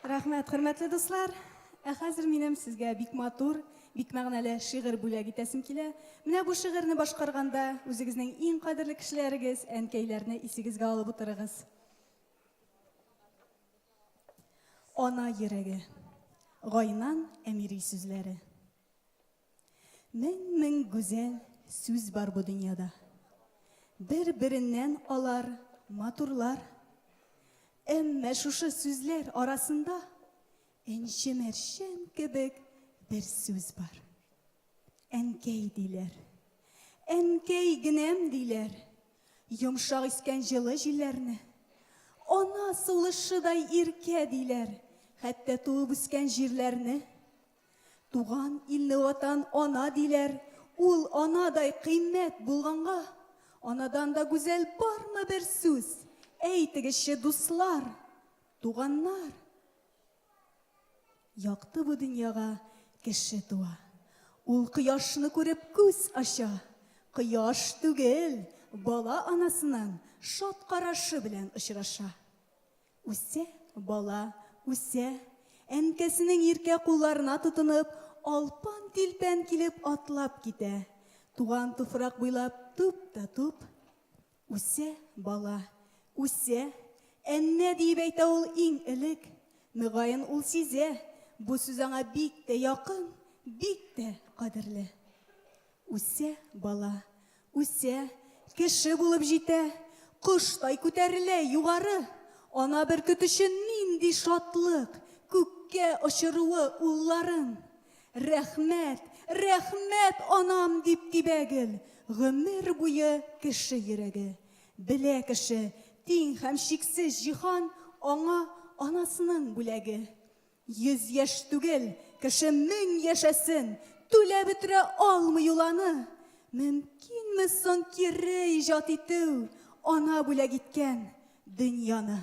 Рәхмәт, хөрмәтле дуслар! Ә хәзер минем сезгә бик матур, бик мәгънәле шигырь бүләк итәсем килә. Менә бу шигырьне башкарганда үзегезнең иң кадерле кешеләрегез, әнкәйләрне исегезгә алып утырыгыз. Ана йөрәге. Гайнан Әмири сүзләре. Мең-мең гүзәл сүз бар бу дөньяда. Бер-береннән алар матурлар. Әмма шушы сүзләр арасында энче-мәрчән кебек бер сүз бар. Әнкәй диләр. Әнкәй генәм диләр. Йомшак искән җылы җилләрне. Ана сулышыдай иркә диләр. Хәтта туып үскән җирләрне. Туган илне ватан ана диләр, ул анадай кыйммәт булганга, анадан да гүзәл бармы бер сүз? Әйтегезче, дуслар, туганнар. Якты бу дөньяга кеше туа. Ул кояшны күреп күз ача. Кояш түгел, бала анасының шат карашы белән очраша. Үсә бала, үсә. Әнкәсенең иркә кулларына тотынып, алпан-тилпән килеп атлап китә. Туган туфрак буйлап туп та туп. Үсә бала, үсә. Әннә диеп әйтә ул иң элек. Мөгаен, ул сизә, бу сүз аңа бик тә якын, бик тә кадерле. Үсә бала, үсә, кеше булып җитә, Коштай күтәрелә югары. Ана бөркет өчен нинди шатлык, Күккә очыруы улларын. Рәхмәт, рәхмәт, анам, дип тибә гел, Гомер буе кеше йөрәге. Белә кеше, тиң һәм чиксез җиһан Аңа анасының бүләге. Йөз яшь түгел, кеше мең яшәсен, түләп бетерә алмый ул аны. Мөмкинме соң кире иҗат итү ана бүләк иткән дөньяны?